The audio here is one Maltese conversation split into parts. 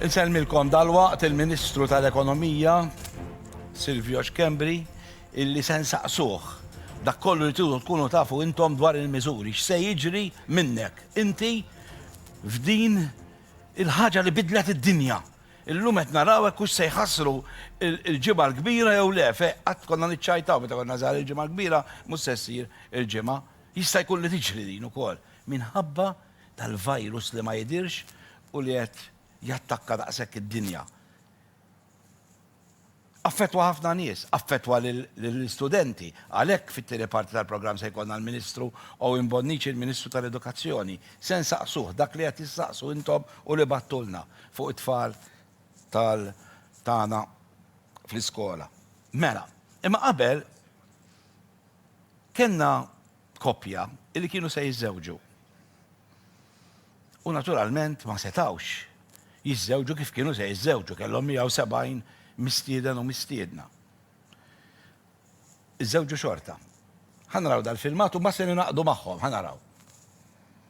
Insellmilkom dalwaqt il-Ministru tal-Ekonomija, Silvio Schembri, illi se nsaqsuh dak kollu li tridu tkunu tafu intom dwar il-miżuri, x'se jiġri minnek inti f'din il-ħaġa li bidlet id-dinja. Illum qed naraw hekk hux se jħassru l-Ġimgħa l-Kbira jew le, fejn qatt konna niċċajtaw meta konna żgħar il-Ġimgħa l-Kbira mhux se ssir il-Ġimgħa. Jista' jkun li tiġri din ukoll minħabba tal-virus li ma jidhirx u li qed jattakka daqshekk id-dinja affettwa ħafna nies, affettwa lill-istudenti. Għalhekk fit-tieni parti tal-programm se jkollna l-Ministru Owen Bonnici, il-Ministru tal-Edukazzjoni. Se nsaqsuh dak li qed issaqsu intom u li bagħttulna fuq it-tfal tal tagħna fl-iskola. Mela, imma qabel kellna koppja li kienu se jiżżewġu. U naturalment ma setgħux jiżżewġu kif kienu se jiżżewġu, kellhom 170 mistieden u mistiedna. Iżżewġu xorta. Ħa naraw dal-filmat u mbagħad se ningħaqdu magħhom, ħa naraw.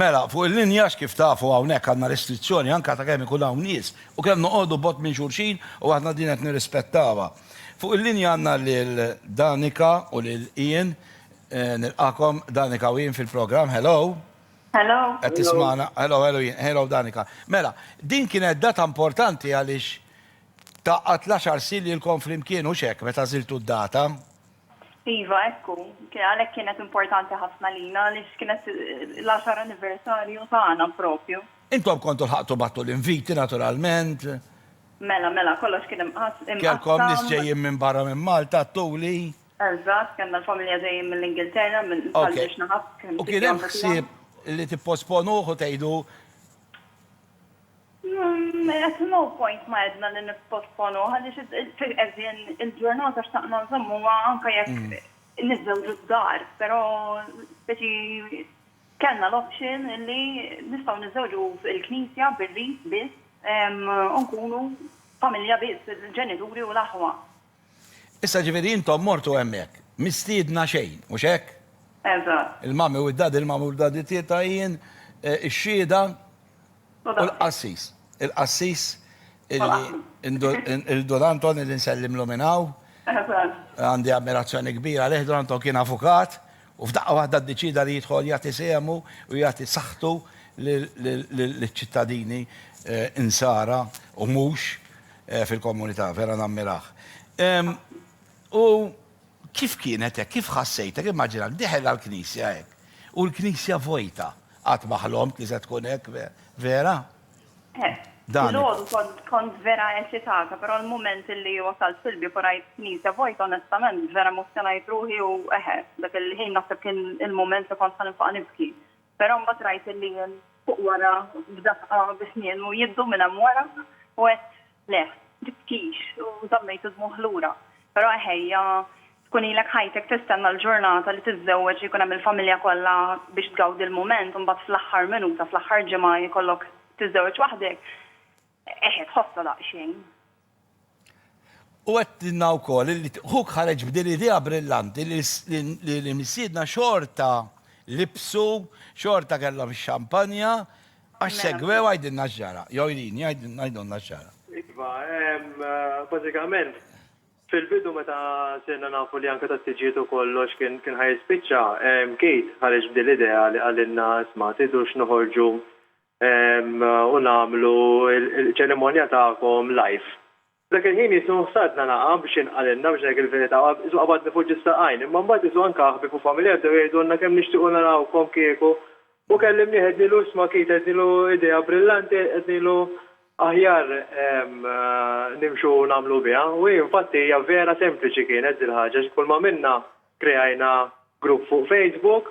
Mela, fuq il-linjax kif tafu hawnhekk għandna restrizzjoni anke ta' kemm ikun hawn nies u kemm noqogħdu bot minn xulxin u aħna din qed nirrispettawha. Fuq il-linja għandna lil Danica u lil Ian Nilqakom Danika u jien fil-programm. Hello. Hello. Qed tismana. Hello, hello jien. Hello Danika. Mela, din kienet data importanti għaliex taqgħad l-għaxar sin lilkom flimkien hux hekk meta żiltu d-data? Iva, hekk hu. Għalhekk kienet importanti ħafna lina għaliex kienet l-għaxar anniversarju tagħna propju. Intom kontu lħaqtu bagħtu l-inviti naturalment. Mela, mela, kollox kien imqassam. Kellkom nies ġejjin minn barra minn Malta, għedtuli. Eżatt, kellna l-familja ġejjin mill-Ingilterra, minn Ħal Biex Naħab. U kien hemm ħsieb li tipposponuh u tgħidu? At no point ma għedna li nipposponuh għaliex qed din il-ġurnata xtaqna nżommuha anke jekk niżżewġu d-dar, però speċi kellna l-option li nistgħu niżżewġu fil-Knisja bir-rit biss u nkunu familja biss, il-ġenituri u l-aħwa. Issa ġifieri intom mortu hemmhekk, mistiedna xejn, mhux hekk? Eżatt. Il-Mummy u d-Daddy, il-Mummy u d-Daddy tieta' jien, ix-Xhieda u l-Qassis. Il-Qassis illi Dun Anton illi nsellimlu minn hawn. Eżatt. Għandi ammirazzjoni kbira għalih, Dun Anton kien avukat u f'daqqa waħda ddeċieda li jidħol jagħti sehmu u jagħti saħħtu liċ-ċittadini Insara u mhux. fil-komunità, vera nammirah. U kif kienet hekk, kif ħassejtek, immaġina, deħel għall-knisja hekk, u l-knisja vojta, qatt ma ħlomt li se tkun hekk, vera? Filgħodu kont vera eċitata, però l-mument li wasalt fil-bieb u rajt knisja vojta, onestament, vera emozzjonajt ruħi u eħe, dak il-ħin naħseb kien il-mument li kont ħa nifaq nibki. Però mbagħad rajt il-liel fuq wara f'daqqa bi snienu jiddu minn hemm wara u għedt, Le, tibkix, u żammejt id-dmugħ lura. Però eħejja, tkun ilek ħajtek tistenna l-ġurnata li tiżżewweġ, li jkun hemm il-familja kollha biex tgawdi l-mument u mbagħad fl-aħħar minuta, fl-aħħar ġimgħa jkollok tiżżewweġ waħdek. Eħe, tħossha daqsxejn. U għedtilna wkoll li ħuk ħareġ b'din l-idea brillanti li missiedna xorta libsu, xorta kellhom ix-xampanja, għax segwew għidilna x'ġara. Jew Irene, għidulna x'ġara. Iva, bażikament, fil-bidu meta sirna nafu li anke tat-tiġijiet u kollox kien ħa jispiċċa, Keith ħareġ b'din l-idea li qalilna, 'Isma', tridux noħorġu u nagħmlu l-ċerimonja tagħkom live. F'dak il-ħin Ġesù sadna naqgħa biex jinqalilna biex ngħidlek il-verità, Ġesù qabadni fuq ġis-saqajn, imma mbagħad Ġesù anke aħbieb u familja bdew jgħidulna kemm nixtiequ narawkom kieku u kellimnieh għednilu isma' Keith għednilu idea brillanti għednilu aħjar nimxu u nagħmlu biha u hi infatti hija vera sempliċi kienet dil-ħaġa għax kull m'għamilna kreajna grupp fuq Facebook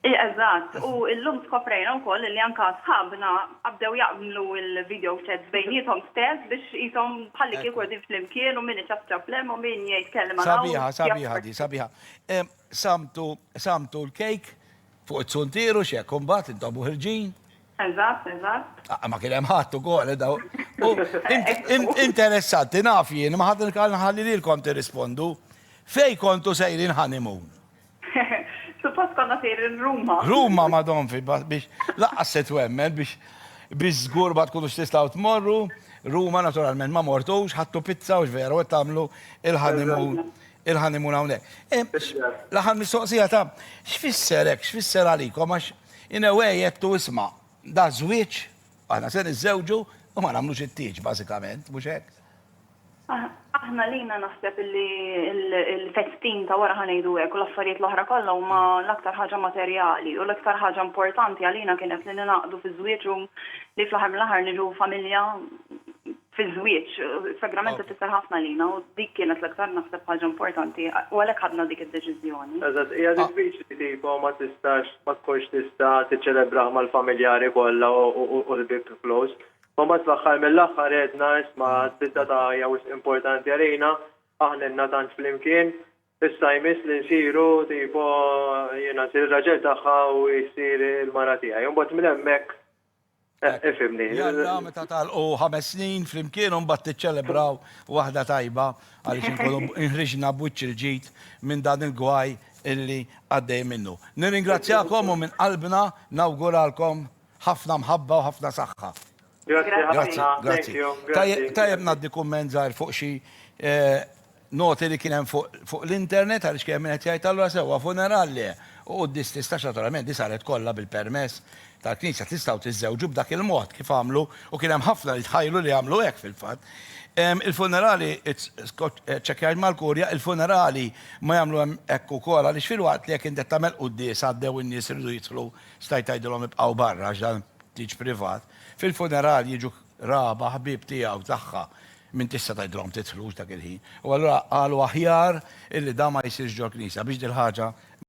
Eżatt, u llum skoprejna wkoll li anke sħabna bdew jagħmlu l-video chats bejniethom stess biex qishom bħallikieku qegħdin flimkien u min iċapċap l-hemm u min jgħid kelma 'l hawn. Sabiħa, sabiħa din, sabiħa. Samtu, samtu l-cake fuq it-suntier u x'hekk, u mbagħad intom u ħirġin. Eżatt, eżatt. Aqqa ma kien hemm ħadd ukoll, daw. U interessanti, naf jien, imma ħadd il-kal nħalli lilkom tirrispondu. Fejn kontu sejrin honeymoon? Suppost konna sejrin Ruma. Ruma madonfi biex laqqas se twemmen biex biex żgur ma tkunux tistgħu tmorru. Ruma naturalment ma mortux, ħadtu pizza u x'veru qed tagħmlu il-honeymoon il-honeymoon hawnhekk. L-aħħar mistoqsija ta' x'fisser hekk, x'fisser għalikom għax in a way għedtu isma' da żwieġ, aħna se niżżewġu u ma nagħmlux it-tieġ bażikament, mhux hekk? Aħna lina naħseb li l-festin ta' wara ħanejdu hekk u l-affarijiet l-oħra kollha huma l-aktar ħaġa materjali u l-iktar ħaġa importanti għalina kienet li ningħaqdu fiż-żwieġ u li fl-aħħar mill-aħħar niġu familja fiż-żwieġ. Sagrament ifisser ħafna lina u dik kienet l-iktar naħseb ħaġa importanti u għalhekk ħadna dik id-deċiżjoni. Eżatt, hija diffiċli tipo ma tistax ma tkunx tista' tiċċelebraha mal-familjari kollha u l-ħbieb close. Ma mbagħad fl-aħħar mill-aħħar għedna isma' d-ditta ta' hija wisq importanti għalina, aħna ilna tant flimkien, issa jmiss li nsiru tipo jiena nsir ir-raġel tagħha u hi ssir il-mara tiegħi. U mbagħad minn hemmhekk, ifhimni. Jalla, meta tagħlqu ħames snin flimkien u mbagħad tiċċelebraw waħda tajba għaliex inkunu inħriġna b'wiċċ il-ġid minn dan il-gwaj illi għaddej minnu. Nirringrazzjakom u minn qalbna nawguralkom Ħafna mħabba u ħafna saħħa. Grazzi ħafna. Thank you. Grazzi. Tajjeb ngħaddi kumment żgħir fuq xi noti li kien hemm fuq l-internet għaliex kien hemm min qed jgħid allura sewwa funeral le u quddies tistax naturalment din saret kollha bil-permess tal-Knisja tistgħu tiżżewġu b'dak il-mod kif għamlu u kien hemm ħafna li tħajlu li għamlu hekk fil-fatt. Il-funerali ċċekkjajt mal-Kurja il-funerali ma jagħmlu hemm hekk ukoll għaliex filwaqt li jekk int qed tagħmel quddies għaddew in-nies iridu jidħlu Stajt tgħidilhom ibqgħu barra għax dan tieġ privat. Fil-funeral jiġu qraba, ħbieb tiegħi u tagħha, min tista' tgħidilhom tidħlux dak il-ħin. U allura qalu aħjar illi dan ma jsirx ġol-knisja biex dil-ħaġa ma.